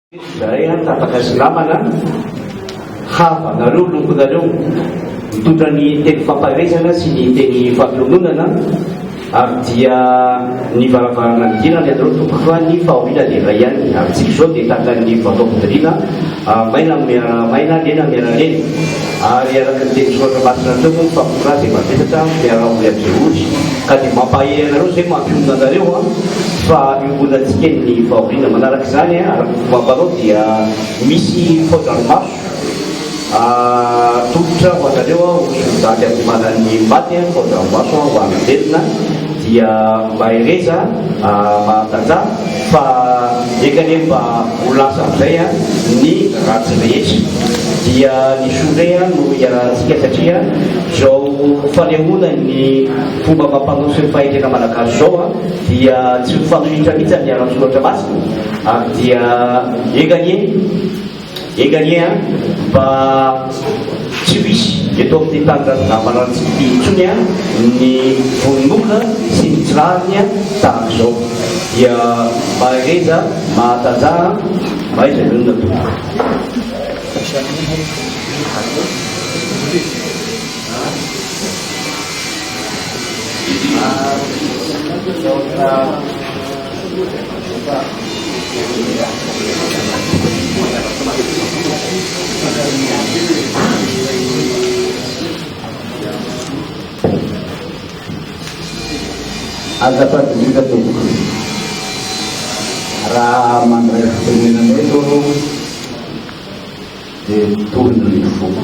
Izahay an, tapaka silama na hava nareo longonareo mitondra ny teny fampaherezana sy ny teny fampiononana ary dia ny varavarana nidirana ianareo tompoko fa ny fahoriana dia iray ihany ary tsy izao dia takan'ny vaovao fidoriana maina miara maina lena miara lena Ary araka ny teny soratra masina teo moa ny famonoana azy efa betsaka ny fiaraha-monina any Jiboty ka dia mampahery anareo izay mampionona anareo fa iombonantsika eny ny fahoriana. Manaraka izany araka ny fomba ampanao dia misy fao-dranomaso atolotra ho anareo aho ry Zandry Ambohimanan'ny maty, fao-dranomaso ho an'ny velona dia mahereza mahatantara. Fa eka anie mba ho lasa amin'izay ny ratsy rehetra. Dia ny soa indray no iarahantsika satria izao fanehoana ny fomba amam-panao sy ny fahendrena malagasy izao dia tsy mifanohitra mihitsy amin'ny ara-tsoratra masina ary dia eka anie Enga anie an! Mba tsy ho hisy eto amin'ny tanindrazonà maranitsika ity intsony an! Ny vononolona sy ny tsy rariny an! Tahaka izao dia mahereza, mahatanjaha an! Mahaiza mionona tompoko. Aza fadinika tompoko raha mandray fitenenana eto aho dia tolona ny foko.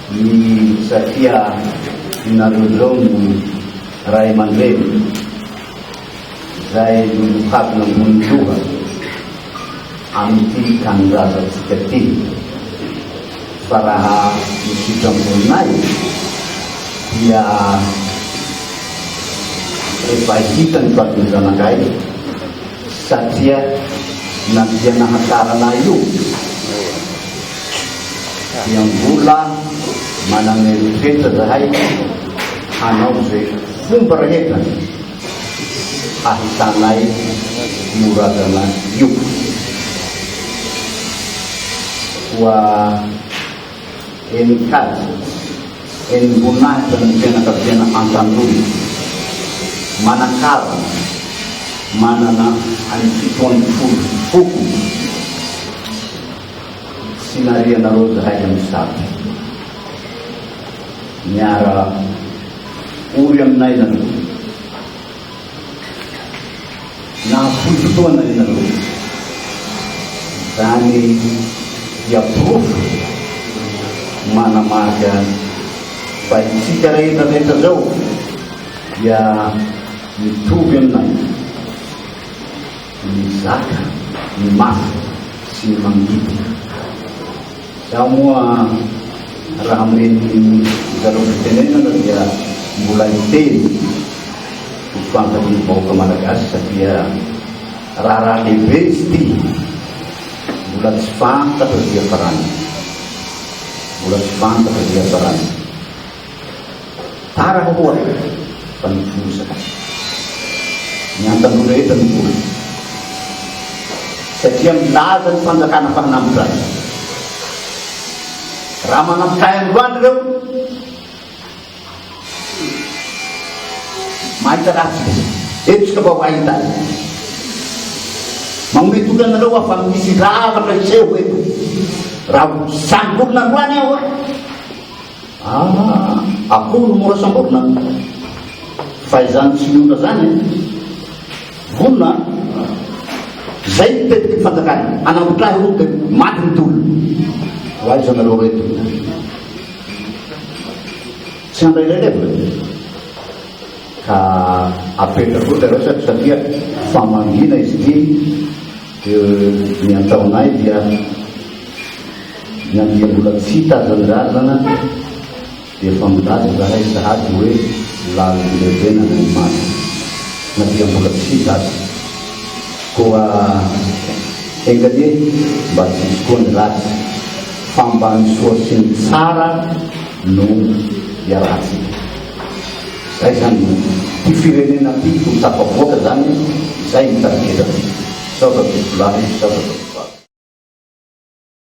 Ny Satria nareo izao no Ray aman-dReny izay nohadina ambony loha amin'ity tanindrazantsika ity fa raha ny fitram-boninay dia efa hitany fa ny zanakay Satria na dia nahatarana ahy io dia mbola manana eritreitra zahay hanao izay fomba rehetra hahitanay io razana io. Koa. Enin-kaja, enim-boninahitra ny fianakaviana Antandroy. Manan-karana, manana any fito ambin'ny folo foko sy nariana rojo iray amin'ny zato. Miara ory aminay nareo. Nahafoy fotoana ianareo. Izany dia porofo manamarika fa isika rehetra rehetra izao dia mitovy aminay. Mizaka ny mafy sy ny mangidy. Izaho moa raha amin'ireny zareo fitenenana dia mbola hiteny ho fantatry ny vahoaka malagasy satria raharaha lehibe izy ity mbola tsy fantatra dia farany mbola tsy fantatra dia farany Farany koa fa ny foza ny antan'olo rehetra no foza satria milaza ny fanjakana fa manampy rano. Raha manampy kay androany ireo mahita ratsy izy. Eto isika vao mahita. Manome toky anareo aho fa misy zavatra hiseho eto. Raha ho samy olona androany aho Ah, akoho no mora samborina. Fa izany tsy miona zany. Vonona. Zay ny tetiky fanjakana. Anambotrahy roa dia maty ny tolo. Ho aiza nareo reto. Tsy handray ilay levona. Ka apetra koa dia resaka satria famangina izy ity dia ny ataonay dia Na dia mbola tsy hita hazandrazana dia efa milaza izahay sahady hoe lalim-pirenena ny maty. Na dia mbola tsy hita aza. Koa enga anie mba tsy hisy koa ny ratsy fa mba ny soa sy ny tsara no iarahantsika. Izay izany no ity firenena ity ho tafavoaka izany izay ny tarigetra antsika. Sao ratovolahy, sao ratovovavy.